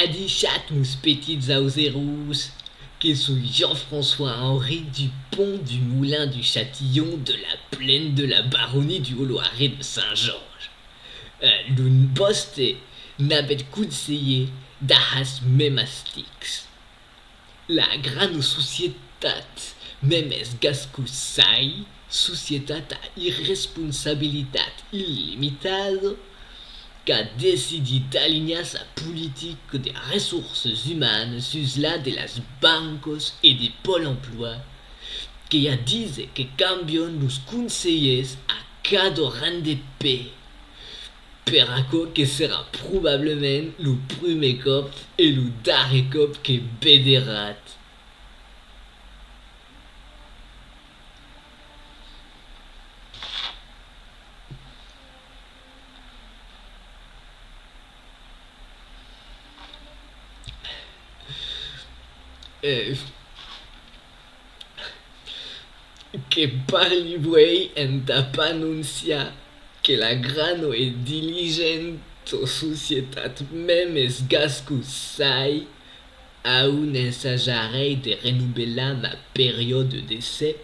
Adishat mos petits auseròs, que soi Jean-François Henri du Pont du Moulin du Chatillon de la Plaine de la Baronie du Haut-Loiret de Saint-Georges. L'un vòste, n'avètz conselhé, dahas mèmas tics. La grana societat, mem es gascusai, societat a irresponsabilitat illimitada, qu'a decidit d'alinhar sa politica de ressources umanes sus la de las bancas e de Pòl emploi, que ja dise que cambian los conselhers a cada rang de pè. Per aquò que serà probablament lo prumèr còp e lo darrer còp que vederàt. Que parli vuei entà p'anonciar que la grano e diligento societat Memes Gascu sai a un ensajarei de renobelar ma periòde d'essai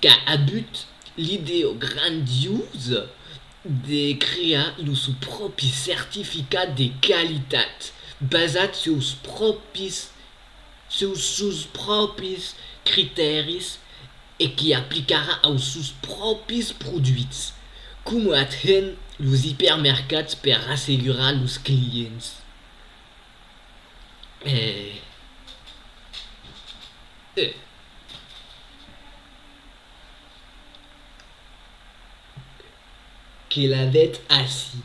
qu'a abut l'ideo grandiosa de crear lo sò pròpi certificat de qualitat basat suls pròpis seus sus pròpis critèris e qu'i aplicarà aus sus pròpis produits, coma ath hèn los ipermercats per rassegurar los clients. Que la vètz ací.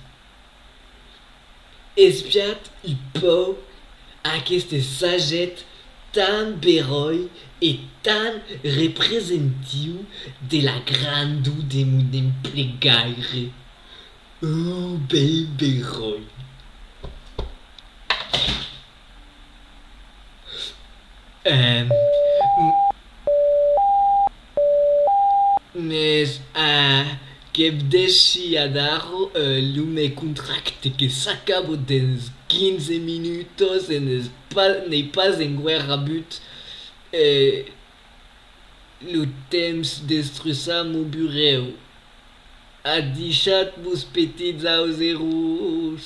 Espiat i pòu aqueste saget tan beròi e tan representiu de la grandor de mon emplegaire. Uu bèl beròi! Mès a que vdèssi adarro lo me contracte que s'acabo dens 15 minutos e n'ei pas enguèr rabut e lo temps d'estruçar mon burèu a dichat vos petits auseròs.